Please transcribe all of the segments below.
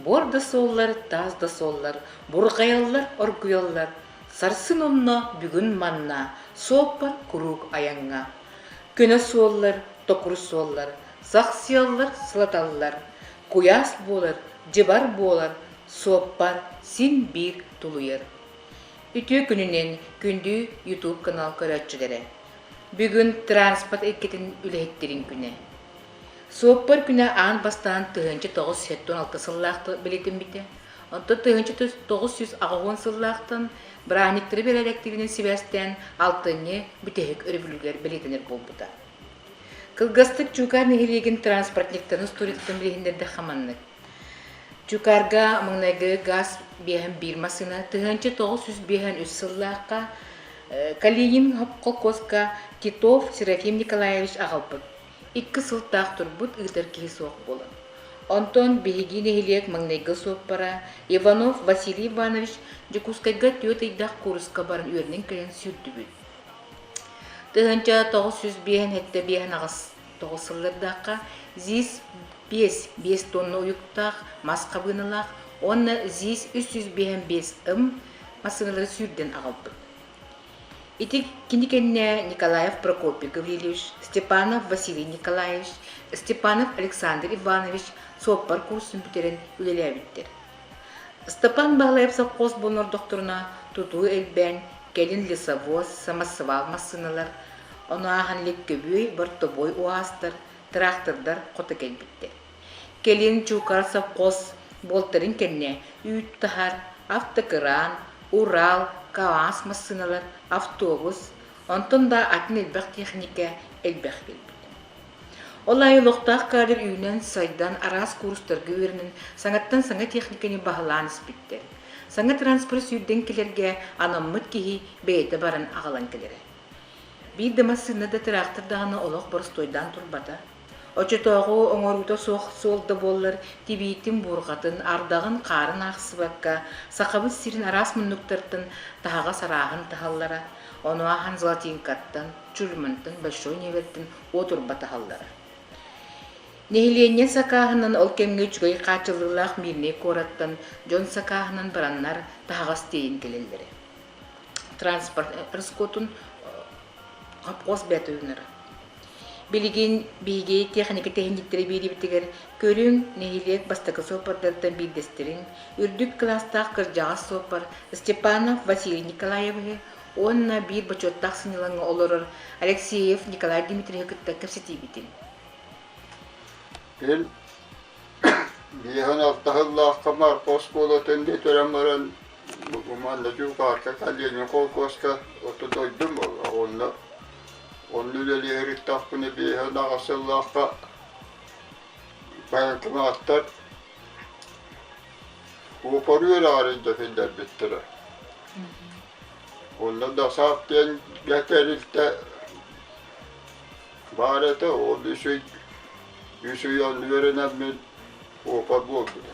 буор да суоллар таас да суоллар бурҕайаллар оргуйаллар сарсын онно бүгүн манна суоппар куруук айаҥҥа көнө суоллар токур суоллар сах сыаллар сылаталлар куйаас буолар дьыбар буолар суоппар син биир тулуйар үтүө күнүнэн күндү ютуб канал көрөөччүлэрэ бүгүн транспорт иккитин үлэһиттэрин күнэ Суоппар күнэ аан бастаан тыһыынча тоҕус сэттэ алта сыллаахтык билитиммитэ. Онтон тыһыынча тоҕус сүүс аҕыһыан сыллаахтан бырааһынньыктары бэрээдэктиирин сибээстээн алтынньы бүтэһик өрөбүлүгэр бэлиэтэнэр буолбута. Кылгастык Чуукаар нэһилиэгин транспортниктарын историятын билиһиннэрдэх маннык. Чуукаарга маҥнайгы газ биэһэн биир массыына тыһыынча тоҕус сүүс биэһэн үс сыллаахха Калинин холкуоска Титов Серафим Николаевич аҕалбыт. Икки сылтаах турбут ыытар киһи суох буолан. Онтон биһиги нэһилиэк маҥнайгы суоппара Иванов Василий Иванович Дьокуускайга түөрт ыйдаах кууруска баран үөрэнэн кэлэн сүүрдүбүт. Тыһыынча тоҕус сүүс биэһэн сэттэ биэһэн аҕыс тоҕус сыллардаахха ЗИС биэс биэс тонна уйуктаах мас хабыыналаах уонна ЗИС үс сүүс биэһэн биэс ым массыыналары сүүрдэн аҕалбыт. Ити кини кэннэ Николаев Прокопий Гаврильевич, Степанов Василий Николаевич, Степанов Александр Иванович суоппар курсун бүтэрэн үлэлээбиттэр. Степан Баглаев совхоз буолан ордохторуна тутуу элбээн, кэлин лесовоз, самоссвал массыыналар, ону ааһан Ликкөбүөй, Бортобуой угаастар, тыраахтырдар хото кэлбиттэр. Кэлин Чуукара совхоз буолтарын кэннэ үүт-таһар, автокыраан, Урал, КААС массыыналар, автобус, онтон да атын элбэх тиэхиньикэ элбэх кэлбит. Ол аайы олохтоох каадыр үүнэн-сайдан араас куурустарга үөрэнэн саҥаттан саҥа тиэхиньикэни баһылаан испиттэр. Саҥа транспорт сүүрдэн кэлэргэ анаммыт киһи бэйэтэ баран аҕалан кэлэрэ. Биир да массыына да тыраахтар даҕаны олох боростуойдаан турбата. Оччотооҕу оҥоруута суох суол да буоллар, тибиитин, буурҕатын, ардаҕын хаарын аахсыбакка, Сахабыт сирин араас муннуктартан таһаҕас арааһын таһаллара, ону ааһан золотинкаттан, чульмантан, большой ньиэбэртэн уот урба таһаллара. Нэһилиэнньэ сакааһынан ол кэмҥэ үчүгэй хааччыллыылаах Мирнэй куораттан дьон сакааһынан бараннар таһаҕас тиэйин кэлэллэрэ. Транспорт расходун хопхос бээтэ Билигин биһиги тиэхиньикэ тэхинииктэрэ биэриибитигэр көрүҥ нэһилиэк бастакы суоппардарыттан биирдэстэрин, үрдүк кылаастаах кырдьаҕас суоппар Степанов Василий Николаевиһы уонна биир бочуоттаах сынньалаҥҥа олорор Алексеев Николай Дмитриеһы кытта кэпсэтиибитин. Ил биһиэхин алтаһыллаахха Марко оскуолатын бүтэрэн баран манна дьукаарка колледжин холкуоска отто дойдум болла уонна Онно үлэлиһэриттэхпинэ биэһэ ынаҕа сыллаахха байыҥкымааттар уопарыы үрэҕэр өйдөтүллэрбиттэрэ. Онно да саап диэнгэ тэрилтэ баар этэ, ол үс ый үс ый он үөрэнэммин опа буолбута.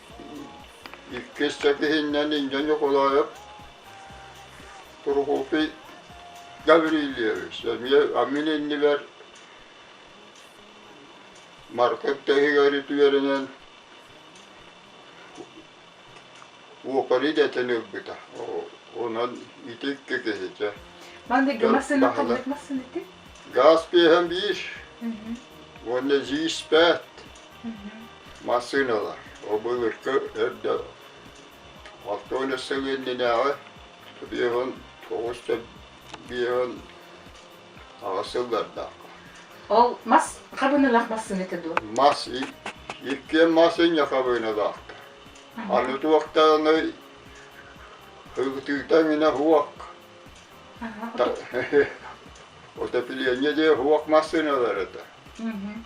Иккис сэтиһиннэн Инньэ Ньукулаев, Тургутий Гаврильевич эмиэ амин иннибэр Маркын тэһигэр үтүөрэнэн уопар идэтин ылбыта. Онон ити икки киһитэ. Манна массыына хоммут массыына ити? Газ пиэһэн биир. Уонна зииспэт. Массыыналар О былыргы эрдэ алта уон сэлиэнньэнээҕи биэһин тоҕус да биэһин аҕыс сыллардаахха Ол мас хабыналаах массыыната дуо? мас и- иккиэн мас инньэ хабыыналаахтар. Аны туохтааҕыный һылытыыта иҥинэ уох Аха, отоп- отопление диэ уох массыыналар этэ. Мгм.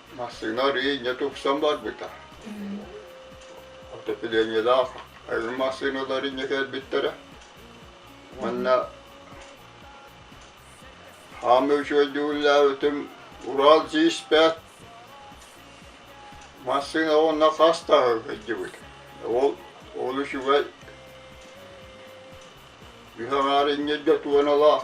Массыына инньэ тупсан барбыта. Отоплениелаах айыл массыыналар инньэ кэлбиттэрэ. Манна хаамыы үчүгэйдүүллээбитим Урал G5 массыына уонна хас таһы кыйдыбыт. Ол ол үчүгэй үһэҕээр иҥниргэ туоналаах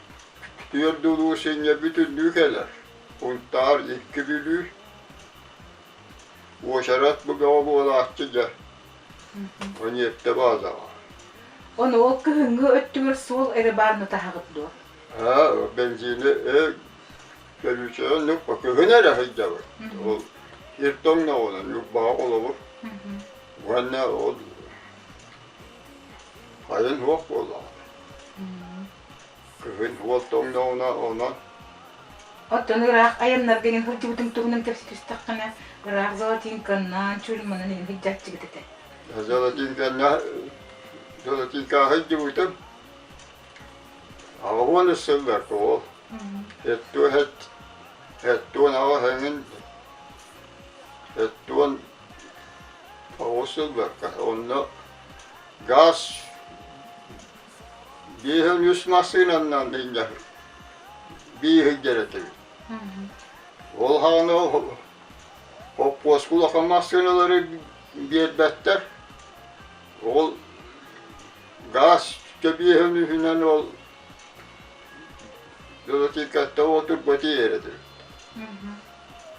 Түөрт улуу сынньа бүтүннүү кэлэр. Унтаар икки бүлүү. Уочарат бу бөҕө буолааччы дьэ. Ониэптэ баазаҕа. Ону ол кыһыҥҥы өттүгэр суол эрэ баар нутаһаҕыт дуо? Аа, бензине э төлүүчэҕэ нукпа кыһын эрэ сылдьабыт. Ол сир тоҥноҕунан нукбаҕа холобур. Уонна ол хайын суох буоллаҕа. Кыһын уол тоҥнооҕуна онон Оттон ыраах айаннарга ини сылдьыбытым туһунан кэпсии түстэххинэ, ыраах золотинканнаан чуульманан ини сылдьааччыгыт этэ. Золотинканна золотинкаҕа сылдьыбытым. Аҕа уон сыллар тоҕол. Эттуон эт эттуон аҕа эҥин эттуон оҕус сылларга онно газ Биэс уон үс массыынанан сынньабыт. Биир сылдьар этибит. Ол хаана хоппуоска улахан массыыналары биэрбэттэр. Ол гаас кэбиэһин үһүнэн ол велосипедка отырбат иэрэтибит.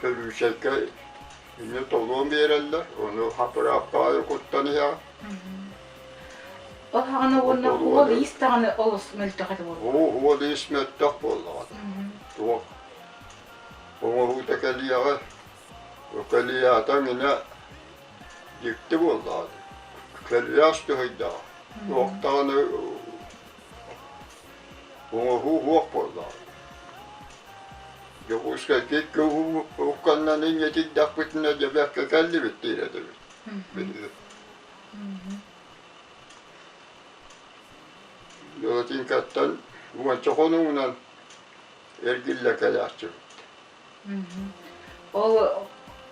Көлүүчэйкэ ини толуон биэрэллэр, ону аппарааттаҕа куттан иһэҕин. Ол хаҕана уонна уол иис даҕаны олус мөлтөх этэ буолла. Оо, уол иис мөлтөх буоллаҕа. Туох оҥоһуута кэлиэҕэ. Кэлиятаҥ инэ дьикти буоллаҕа. Кэлиэс түһэйдэҕэ. Туох даҕаны Оҥоһуу суох буоллаҕа. Дьокуускайтан кылуканнан иҥэтийдэхпитинэ дьэбэккэ кэллибит диир этибит. Лотинкаттан уонча хонугунан эргиллэ кэлээччибит Ол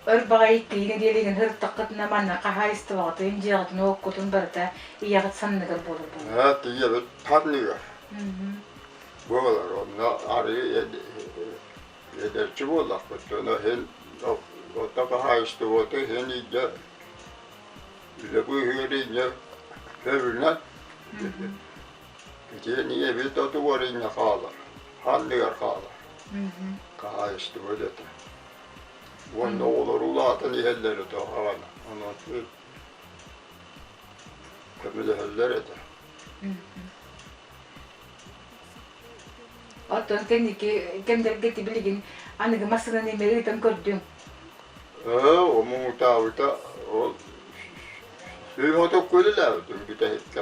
өр баҕайы иккилигэ диэли ыһыктаххытына манна хаһаайыстыбаҕытын, дьиэҕитин, уоккутун барыта ийэҕит санныгар буолар буолар. Аа, ийэбит ханныгар? Буолар онно арыый эдэрчи буоллахпыт дьоно иһин ото хаһаайыстыбата иһин инньэ үлэ быыһыыр инньэ көрүнэн Итиэн ийэбит оту уорунньа хаалар, ханныгар хаалар. Хаһаайыстыба үлэтэ. Уонна оҕолор улаатан иһэллэр өтө хаҕана. Ону көмөлөһөллөр этэ. Оттон ити кэмдэргэ ити билигин аныгы массыынаны имэри ыытан көрдүҥ. Ээ, омуутаабыта ол сүүс отукку үлэлээбитим бүтэһиккэ.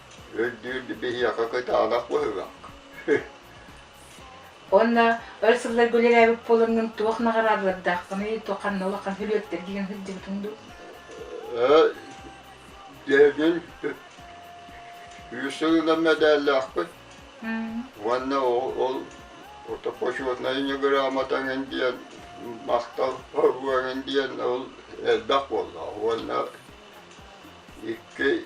Үрдүүрдүү биһиэхэ кытаанах быһыылаах. Онно өр сылларга үлэлээбит буолаҥҥын туох наҕараадалардааххыный, туох ханна улахан күрүөттэр диэн сылдьыбытыҥ дуу? Дэбин үс сылынан мэдээллээхпин. Уонна ол отопочетная грамотаҥын диэн махтал диэн ол элбэх буолла. Уонна икки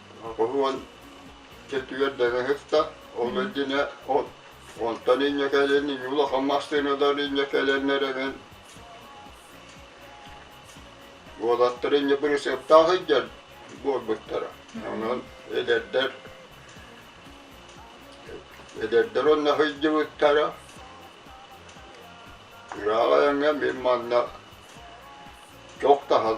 уһун чэттигэр дэгэһиттэ ол илдине онтон инньэ кэлин улахан массыыналар инньэ кэлэннэр эбин уолаттар инньэ бырысыаптаах илдьэн буолбуттара онон эдэрдэр эдэрдэр онно сылдьыбыттара ыраах айаҥҥа мин манна чох таһан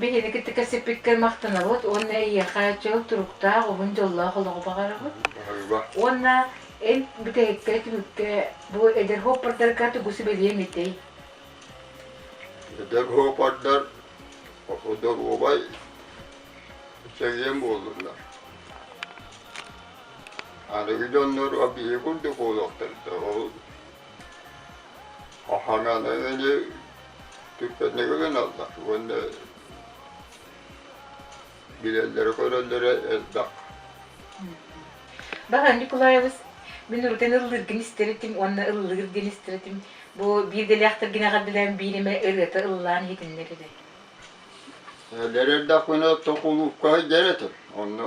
Биһиги кытта кэпсэппиккэр махтанабыт уонна эйиэхэ чөл туруктаах, уһун дьоллоох олоҕу баҕарабыт. Уонна эн бүтэһиккэ түмүккэ бу эдэр хоппордарга тугу сүбэлиэм этэй? Эдэр хоппордар доруобай чэгиэн буоллуннар. Аныгы дьоннор биһиги курдук буолуохтар да ол Охаҥалыгыны түппэтигүлэн аллах уонна билэллэрэ-көрөллөрө элбэх. Баһан Ньукулаайабыс мин урутын ыллыыргын истэритим уонна ыллыыр диэн истэритим. Бу биир дэлээхтэргинэҕэ билэн биир эмэ ырыата ыллаан иһитиннэр үһү. Лэр эрдэх күнэ токулуупка сылдьар этим. Онно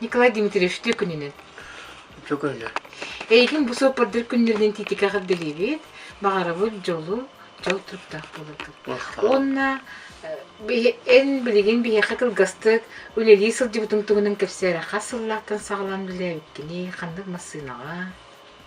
Николай Дмитриевич күнүнэн. Түкөнө. Эйигин бу суоппардар күннэринэн титикаҕар дэлиибит, баҕарабыт дьолу, дьол туруктаах болыргын. Уонна эн билигин биһиэхэ кылгастык үлэлии сылдьыбытыҥ туһунан кэпсээрэххэ сыллаахтан саҕалаан билээбиккиний, ханнык массыынаҕа?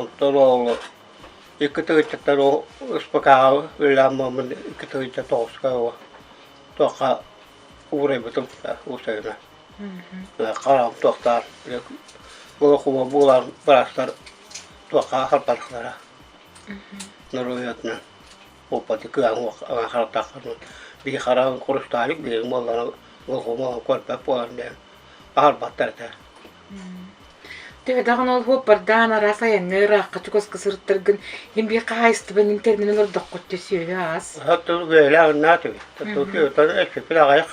Оттон оҕону иккитэ ыччаттар успакааҕа ыалааммаммын иккитэ ыччат оҕуска оҕо туохха уурайбытым уурсайына хараҕым туохтаах волокуба буолан быраастар туохха харпатахтара норуойатынан оппоти кыаҕын харатахтарынан бии хараҕын курустаалык биэриҥ буоллара волокуба көрбөт буолан аһарбаттар этэ Төһөтөҕүн ол буоппардаан араас айаҥҥа ыраахха чугаска сырыттаргын иһин биир хаһаайыстыбанын тэринэн олордоххут дьэ сүөһү аас. Оттон үөлээх наат үһү. Оттон эккиппин аҕайах.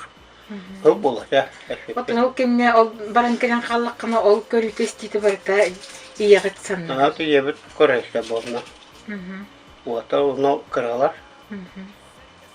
Ол болота. Оттон ол кэннэ ол баран кэлэн хааллаххына ол көрүүтэ истиитэ барыта ийэҕит санна. Наат ийэбит көрөстө буолна. Уота оно кыралар.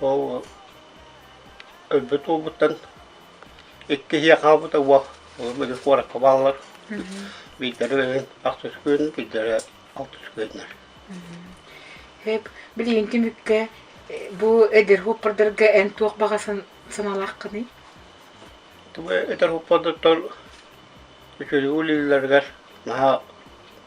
Оо, өлбүт уолбуттан икки киһи хаалбыта уо, оҕом өлү куоракка бааллар. Биирдэрэ бэйэҥ ахтыс күн, биирдэрэ алтыс күннэр. Эп, билигин түмүккэ бу эдэр хуоппардарга эн туох баҕа сан- санаалааххыный? Тугу эдэр хуоппардар үчүгэй үлэлэригэр наһаа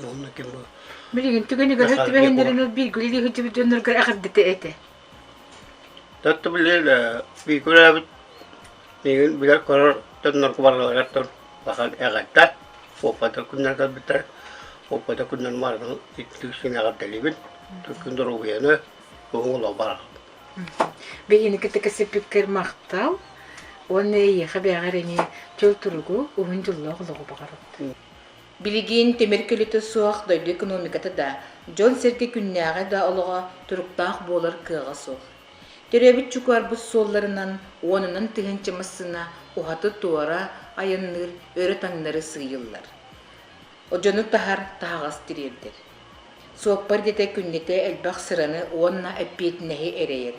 Уонна ким бу Билигин түгэн ыгар Дьахар түбэһиннэрин ол бииргэ илии сылдьыбыт дьоннорго эҕэрдэтэ этэ. Татта билэр биикүрээбит миигин билэр көрөр дьоннорго барыларыттан улахан эҕэрдэ. Оппата күннэр көрбүттэр. Оппата күннэр мардан иттик син эҕэрдэлибин. Түркүн доруобуйаны бүгүн олох барар. Биһиги кытта кэсиппиккэр махтал. Уонна эйиэхэ бэҕэр эни чөл туругу, уһун дьоллоох олоҕу баҕарабыт. Билигин тимир көлүтэ суох дойду экономиката да, дьон-сэргэ күннээҕи да олоҕо туруктаах буолар кыаҕа суох. Төрөөбүт чукаарбыт суолларынан уонунан тыһыынча массыына уһаты туора айанныыр өрө таҥнары сыыйыллар. Дьону таһар таһаҕас тириэрдэр. Суоппар идэтэ күннэтэ элбэх сыраны уонна эппиэтинэһи эрэйэр.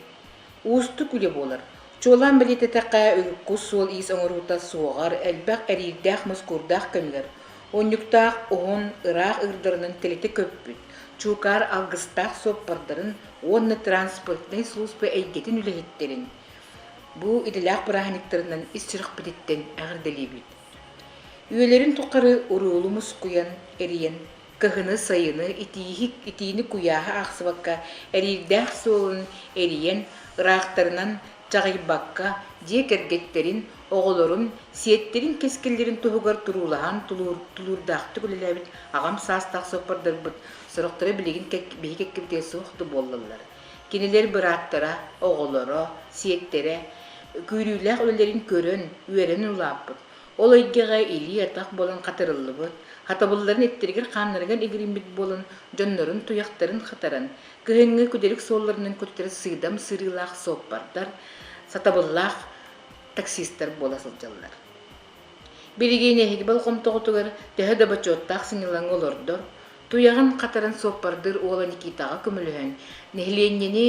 Уустук үлэ буолар. Чуолаан бэлиэтэтэххэ, кус суол-иис оҥоруута суоҕар, элбэх эриирдээх-мускуурдаах кэмнэр, унньуктаах уһун, ыраах ыырдарынан тэлитэ көппүт, чуукаар алгыстаах суоппардарын уонна транспортнай служба эйгэтин үлэһиттэрин бу идэлээх бырааһынньыктарынан ис сүрэхпититтэн эҕэрдэлиибит. Үйэлэрин тухары уруулу мускуйан, эрийэн кыһыны-сайыны, итииһи, итиини куйааһы аахсыбакка, эриирдээх суолун эрийэн, ыраахтарынан чаҕыйбакка, дьиэ кэргэттэрин, оҕолорун, сиэттэрин-кэскиллэрин туһугар туруулаһан тулуурдаахтык үлэлээбит аҕам саастаах суоппардарбыт сорохторо билигин биһи кэккэбитигэр суох да буоллаллар. Кинилэр бырааттара, оҕолоро, сиэттэрэ күүрүүлээх үлэлэрин көрөн, үөрэн ыллааппыт, Ол эйгэҕэ илии-атах буолан хатырыллыбыт, хатабылларын иттэригэр-хааннарыгар игириммит буолан, дьоннорун туйахтарын хатаран, кыһыҥҥы күдэрик суолларынан көтүтэр сыыдам сырыылаах суоппардар, сатабыллаах таксистар буола сылдьаллар. Билигин эһиги болҕомтоҕутугар төһө да бочуоттаах сынньалаҥы олордор, туйаҕын хатаран суоппардыыр уола Никитаҕа көмөлөһөн, нэһилиэнньэни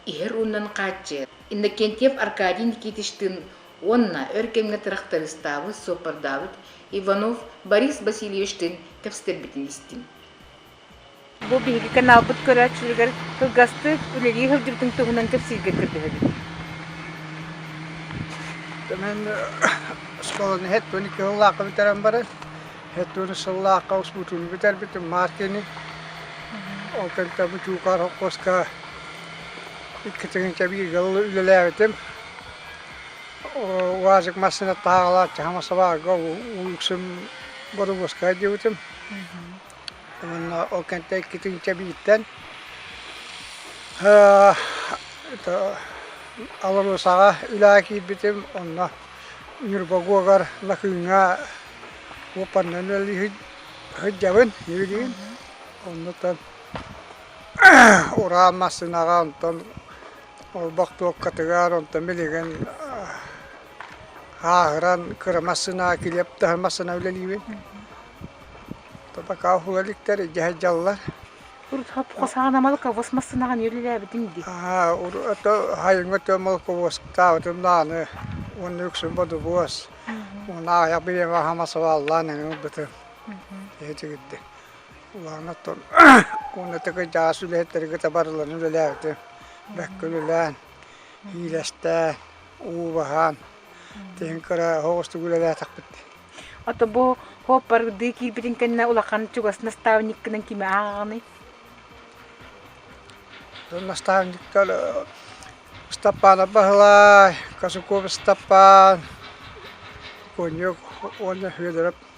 иһэр ууннан хааччыйар Иннокентьев Аркадий Никитичтыын Уонна өр кэмҥэ тырахтарыыстаабыт, суоппардаабыт Иванов Борис Васильевичтыын кэпсэтэрбитин истим. Бу биһиги каналбыт көрөөччүлэригэр кылгастык үлэлии сылдьыбытын туһунан кэпсииргэ көрдөһөбүт. Мен осколаны хэттуни кыыллаахка бүтэрэн баран, хэттуни сыллаахка успутун бүтэрбитим Мартини. Ол кэнтэ бучуукар хоккоска иккитин кэбииргэ үлэлээбитим. УАЗик массыына таһаҕалааччы хамасабаарга УХС-м боруобуускаҕа диэбитим. Уонна ол кэнтэ иккитин кэбииртэн АЛРОСАҕа үлэҕэ киирбитим. Онно Нюрбагуогар Накыыҥҥа уоппарынан сылдьабын, үөрүүм. Оннуттан уран массыынаҕа онтон Олбох туоккатыгар онтон билигин ааһыран кыра массыына килиэп-таһы массыына үлэлиибин. Табакаа уһуга иликтэр, дьэһэ дьаллар. Саҕана молоковоз массыынаҕа эмиэ үлэлээбитиҥ дии? Аа, ото хайыҥҥа өтө молоковозтаабытым дааны уонна үксүн бодобуос. Уна аҕыйаҕа хама сабааллаан эҥин ылбытым. Иһи тигирдин. Кулаан оттон уонна таки дьаас үлэһиттэргэ табарылан үлэлээбити бэккэ үлэлээн, иилэстээн, уу баһаан, тиһин кыра оһоҕустук үлэлээтэхпит. Ото бу хоппардыы киирбитин кэннэ улахан чугас наставниккынан кими ааҕаҕыный? Наставниктар Ыстапаанап Баһылай, Косуков Ыстапаан, Коньок уонна Федоров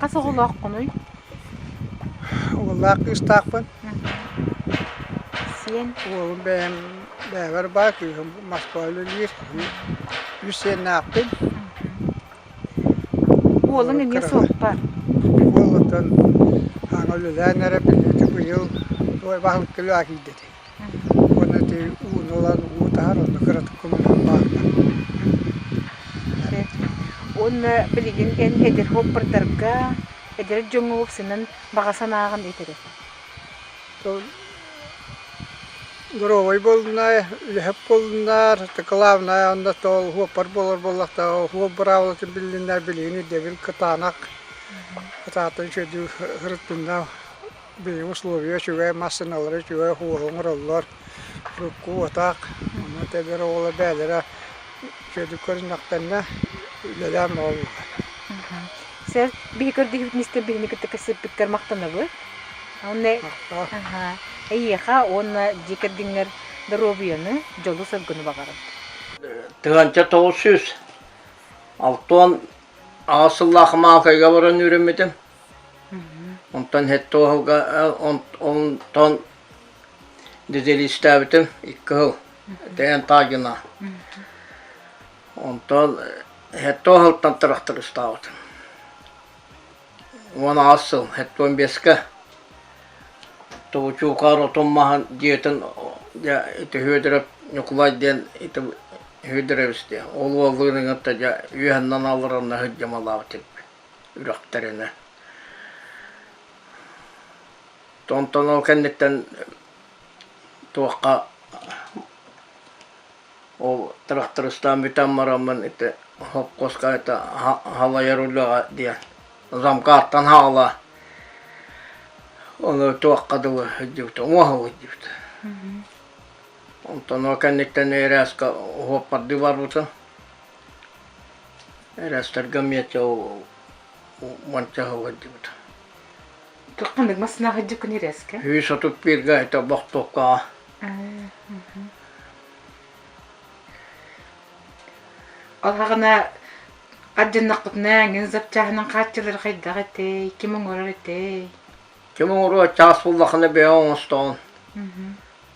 Хас оҕолооххунуй? Уоллаах кыыстаахпын. Сиэн? Уолум бэйэм бэйэбэр баа кыыһым Москва үлэлиир. Үс сиэннээхпин. Уолуҥ эмиэ суоппар. Уол оттон ааҥа үлэлээн эрэ быйыл быйыл баһылык көлөө киирдэ. уонна ити ууну ылан уу таһар онно кыратык омунан бааллар уонна билигин эн эдэр оппардарга эдэр дьоҥҥо упсанан баҕа санааҕын итири доруобай буолунаа үлэһит буолунаар главное анда то уоппар буолар буоллахта уоп быраабылатын биллиннэр билигин ирдэбил кытаанах кытаатын сөдүү хырыттынна Биһиги условия үчүгэй, массыыналары үчүгэй, ууга оҥороллор. Урукку атаах, ону эдэр оҕолор бэйэлэрэ чөлүк көрүннэхтэннэ, үлэлээн буолаллар. Сэр, биһи көрдөһүүбүтүн истэн биһини кытта кыссыппыттар махтанабыт. Онно Махтаан. аха, эйиэхэ уонна дьиэ кэргэҥҥэр доруобуйаны, дьолу-соргуну баҕарабыт. Тыһыынча тоҕус сүүс алта уон аҕыс сыллаах Маалкайга баран үөрэммитим. Онтон сэттэ уоһуга онтон дизелистээбитим икки сыл ТНТАГина. Онтон сэттэ уоһуттан тырахтарыстаабытым. Уон аҕыс сыл сэттэ уон биэскэ Тобучуукаар отун маһын дьиэтин дьэ ити Һүөдэрап Ньукулай диэн ити Һүөдэрэбис диэн ол уолларын кытта дьэ үөһэннэн алларанна сылдьымалаабыт үрэхтэринэ Томтону ол кэнниттэн туохха ол трактористаан бүтэн бараммын ити хопкоскайта халайар үлэҕэ диэн замкаттан хаала ону туохха дылы сылдьыбыт уҥуоҕа сылдьыбыт онтон ол кэнниттэн Эрэска уоппардыы барбытым Эрээстергэ миэттэ уонча сылдьыбыт. Ханнык массыынаах өйдүккүн ирэскэ? Үс отут бииргэ это бохтуоккаҕа. Ол һаҕана ардьаннахпытына эҥин запчаһынан хааччылар хайдах этэй, ким оҥорор этэй? Ким оҥоруо чаас буллахына бэйэ оҥостоҕун.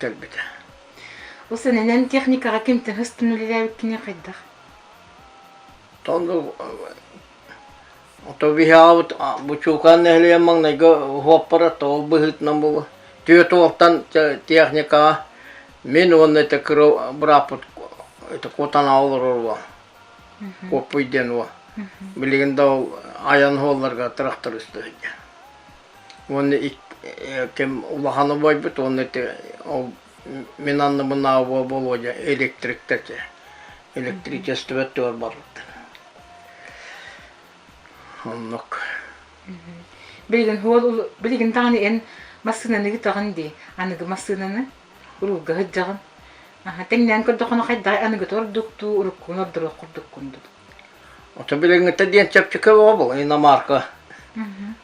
Көрбүтэ. Ол сэнэнэн техникаҕа ким тыһы устун үлэлээбит кини хайдах? Тоҥу ото биһаабыт бучуукаан нэһилиэн маҥнайгы уоппара тоол быһыытынан була түөрт уоттан техникаҕа мин уонна это кырыл быраппыт это кутана олоруо коппуй диэн уо билигин да ол айан холларга тырахтар ыстыһыйа уонна ким улахан убайбыт уонна ити мин анныбынааҕы Володя электриктэр электричествотыгар барбыттар оннук билигин уол билигин даҕаны эн массыынаны ыытаҕын дии аныгы массыынаны уруулга сылдьаҕын тэҥнээн көрдөххүнэ хайдаҕай аныгыта ордуктуу уруккуун ордоруох курдуккун дуу ото билиҥҥитэ диэн чэпчэки оҕо был иномарка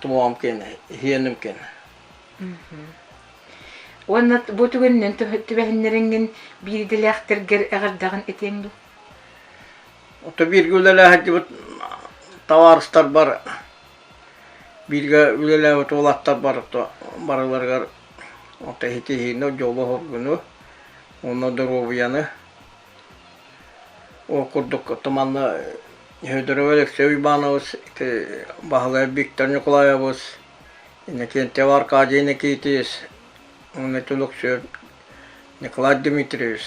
тумоом кэн иһиэним кэн уонна бу түгэнинэн түбэһиннэриҥҥин биир идэлээхтэргэр эҕэрдэҕин этиэҥ дуу Ото бииргэ үлэлээһэрдибит табаарыстарбар бииргэ үлэлээбит уолаттарбар барыларыгар ото иһитиһиини дьолу оһоргуну уонна доруобуйаны Ол курдук Туманна Федорова Алексей Уйбаанабыс, ити Баһылай Виктор Ньукулаайабыс, Иннокентьев Аркадий Никитич уонна Түлүксүөт Николай Дмитриевич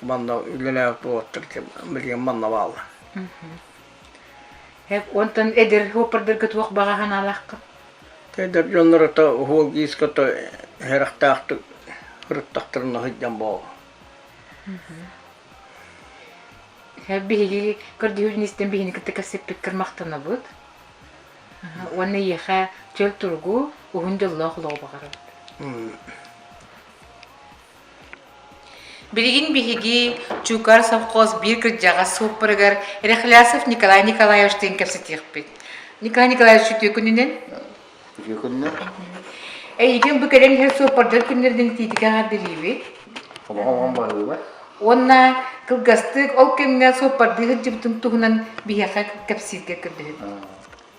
манна үлэлээбит уолаттар билигин манна бааллар Онтон эдэр уоппардарга туох баҕа санаалааххын? Эдэр дьоннорото уһуолгииска то харахтаахтык ырыттахтарына сылдьан буолла. Биһиги көрдүһүүбүн истэн биһини кытта кэпсэппиккэр махтанабыт. Уонна ийэхэ чөл тургу, уһун дьоллоох олоҕу баҕарабыт. Билигин биһиги Чуукар совхоз биир кырдьаҕас суоппарыгар Рехлясов Николай Николаевичтыын кэпсэтиэхпит. Николай Николаевич үтүө күнүнэн. Үтүө күннэр. Эйигин бу кэлэн иһэр суоппардар күннэрин тиитикэ аҕардарыыбыт. Олоҕоҥ баһыыба. Уонна кылгастык ол кэмҥэ суоппардыы сылдьыбытын туһунан биһиэхэ кэпсииргэ көрдөһүт.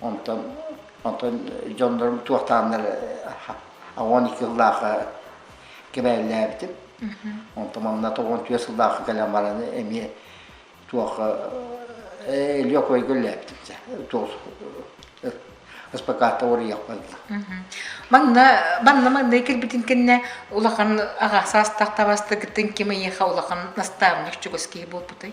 Онтон дьоннорум туохтааннар уон екі сыллаахы кэбээллээбитим. Онтон манна тоҕон түөрт сыллаахы кэлэн баран эмиэ туох Илья Койга үллээбитим дьэ. Туох СПК-та уоруйахпын. Манна манна манна кэлбитин кэннэ улахан аҕа саастаах табастыгытын ким эйиэхэ улахан наставник чугас киһи буолбутай?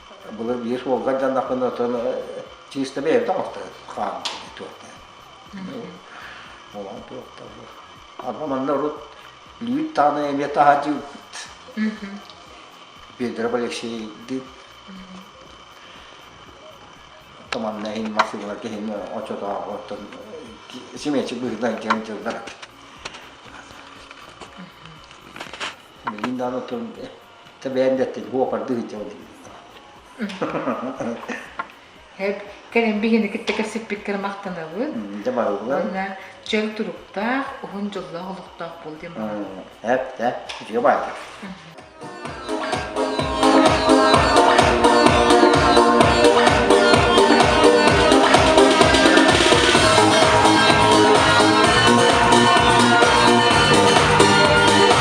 былыр биир уолгар дьаннахпын отон чисто бэйэм таҥастаан хааммытым туохтаан олоон туохтаабы ама манна урут лүүт таана эмиэ таһаадьыыбыт Петр Алексеевдит томанна иһин массыылар киһин очотооҕу оттон симиэчи быһынан киһин дьыллар билин даан отон Тэбээндэттин уопардыы сылдьабын Кэлэмбигини кытта кэпсиппит кэр махтанабын. Дьэ барыллар. Уонна чөл туруктаах, уһун дьоллоох олохтоох бол диэн баҕа. Эп, эп, үтүө баай.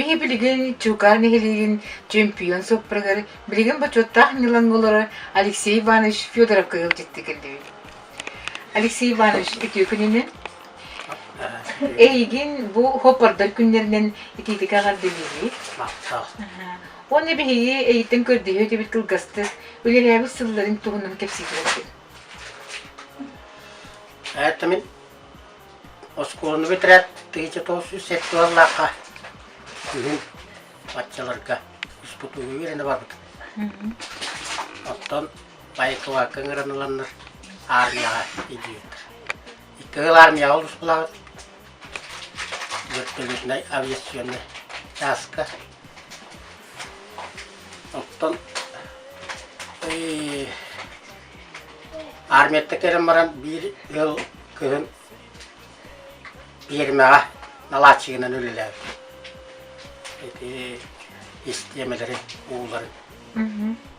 Биһи билигин Чуукаар нэһилиэгин чемпион соппрагар билигин бочуоттаах ньылан болары Алексей Иванович Федоров кыйыл дьитти келдибит. Алексей Иванович, үтүө күнүнэн. Эйигин бу хоппордор күннэринэн итиитик эҕэрдэлииһи. Махтал. Уонна биһиги эйиттэн көрдөһүү этибит кылгастык, үлэлээбит сылларын туһунан кэпсиитигэр этин. Ээттэмин оскуоланы бүтэрээт тыһыча тоҕус үс сексуаллаахха күһүн баччаларга успутууга үөрэнэ барбыт. Оттон байкалаакка ыҥыран ыланнар армияҕа идьиийдэр. Икки армияҕа олуспулаабыт. Вертолетнай авиационнай чааска. Оттон армията келен баран биир ыал кыһын пиэрмэҕэ налааччыгынан үлэлээбит. Ити истиэмэлэрин, ууларын.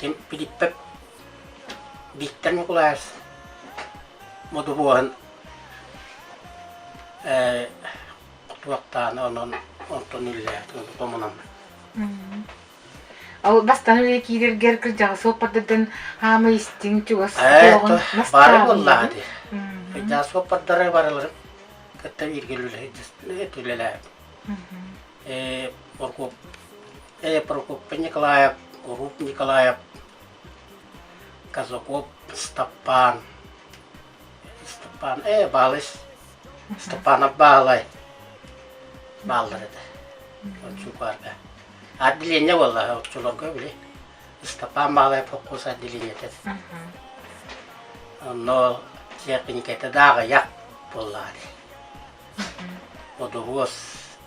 ким Филиппов Виктор Ньукулаев Модубуоһун кутуоктааны онон онтон үллээт томунаммыт Ол бастан үлэ киирэргэр кырдьаҕас суоппардардан хаама истиҥ чугас туоҕун бастаан. Бары буллаахыты. Кырдьаҕас суоппардары барыларын кытта бииргэ үлэлэһит үлэлээбит. Оркуоп Э, Прокопий Николаев, Уруб Николаев, Казаков Степан. Степан, э, Балыш. Степанов Баалай. Баалар это. Очень парка. Отделение было, отчулога били. Степан Балай фокус отделение это. Но техникete дагы як боллари. Одогос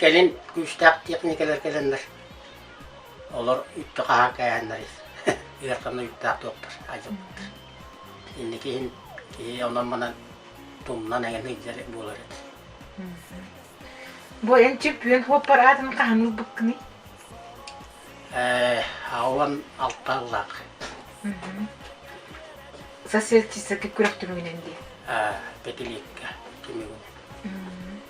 кэлин күүстээх техникалар кэлэннэр олор үттэ хаһан кээһэннэр ыархана үттээх туоптар адьыллар инники иһин киһи онон-манан тумнан эҥин ыйдар буолар эт Бу эн чемпион хоппар аатын хаһаныл быккыный? Э, ауан алта ыллаах. Соседки күрэх түмүгүнэн дии. Э, пятилетка түмүгүн.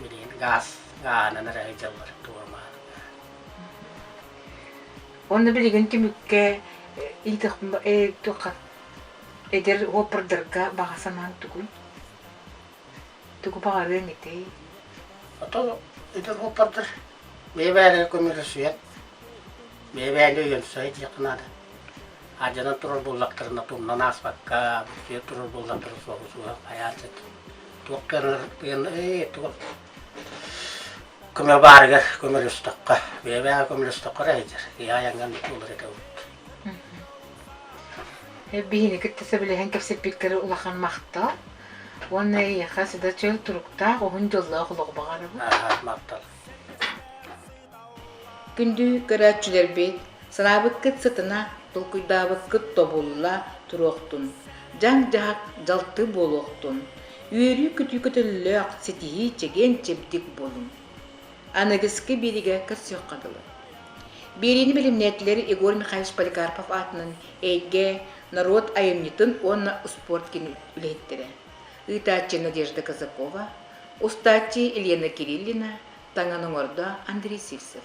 Билигин гаас гааһынан эрэ сылдьаллар дуорма. Онно билигин түмүккэ эдэр уоппардарга баҕа санааҥ тугуй? Тугу баҕарыаҥ этэй? Ото эдэр уоппардар бэйэ бэйэлэрэ көмөлөсүйэн бэйэ бэйэни өйөнсөйө диэххэ наада. Алдьанан турар буоллахтарына тумнан ааспакка бүтүө турар буоллахтара суоҕу суоһун хайаан сөп. туох гынаргын ый туох көмө баарыгар көмөлөстөххө бэйэбээҕи көмөлөстөххө эрэ сылдьар ийэ айаҥҥан буолар этэбит биһиги кытта сөбүлэһэн кэпсэппиккэр улахан махтал уонна эйиэхэ сыда чөл туруктаах уһун дьоллоох олох баҕарабын махтал Күндү көрөөччүлэрбит, санаабыккыт сытына, толкуйдаабыккыт тобулла туруохтун, дьаҥ-дьаһах дьалты буолуохтун, үөрүү-көтүү көтөллөөх ситиһии чэгиэн-чэбдик буолун. Аныгыскы биэриигэ көрсүөххэ дылы. Биэриини бэлэмнээтилэр Егор Михайлович Поликарпов аатынан эйгэ, норуот айымньытын уонна успуорт киин үлэһиттэрэ. ыытааччы Надежда Казакова, устааччы Елена Кириллина, таҥан оҥордо Андрей Сивцев.